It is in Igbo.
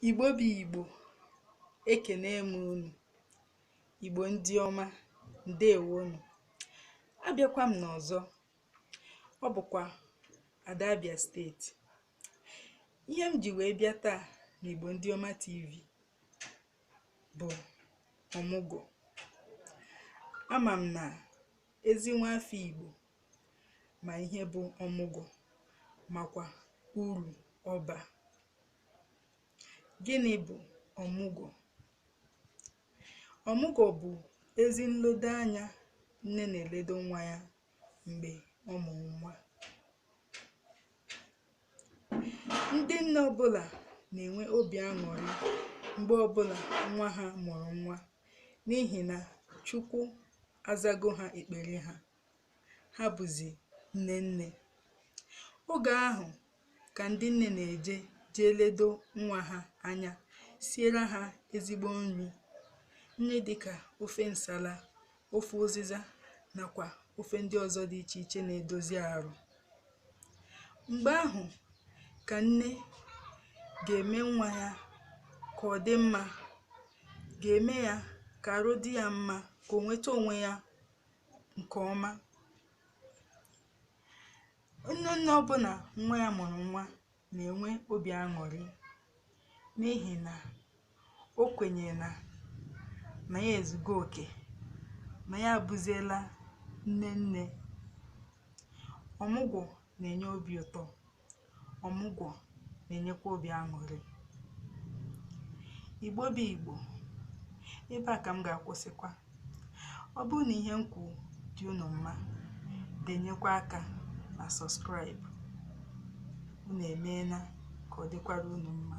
Igbo bụ Igbo, ekene m unu. Igbo ndị ọma, ndewonu. Abịakwa m n'ọzọ, ọ bụkwa Ada Abia steeti. Ihe m ji wee bịa taa n'Igbo ndị ọma TV bụ ọmụgwọ. Ama m na ezi nwa afọ Igbo ma ihe bụ ọmụgwọ makwa uru ọ ba. Gịnị bụ ọmụgwọ? Ọmụgwọ bụ ezi nledo anya nne na-eledo nwa ya mgbe ọ mụrụ nwa. Ndị nne ọbụla na-enwe obi aṅụrị mgbe ọbụla nwa ha mụrụ nwa n'ihi na Chukwu azago ha ekpere ha ha bụzi nne nne. Oge ahụ ka ndị nne na-eje jee ledo nwa ha anya, siere ha ezigbo nri, nri dịka ofe nsala, ofe ụzịza nakwa ofe ndị ọzọ dị iche iche na-edozi arụ. Mgbe ahụ ka nne ga-eme nwa ya ka ọ dị mma, ga-eme ya ka arụ dị ya mma, ka o nweta onwe ya nke ọma nne nne ọbụla nwa ya mụrụ nwa na-enwe obi aṅụrị n'ihi na o kwenyere na na ya ezugo oke na ya abụziela nne nne ọmụgwọ na-enye obi ụtọ ọmụgwọ na-enyekwa obi aṅụrị igbo bụ igbo ebe a ka m ga-akwụsịkwa ọ bụrụ na ihe m kwu dị unu mma denyekwa aka na subscribe unu emeela ka ọ dịkwara unu mma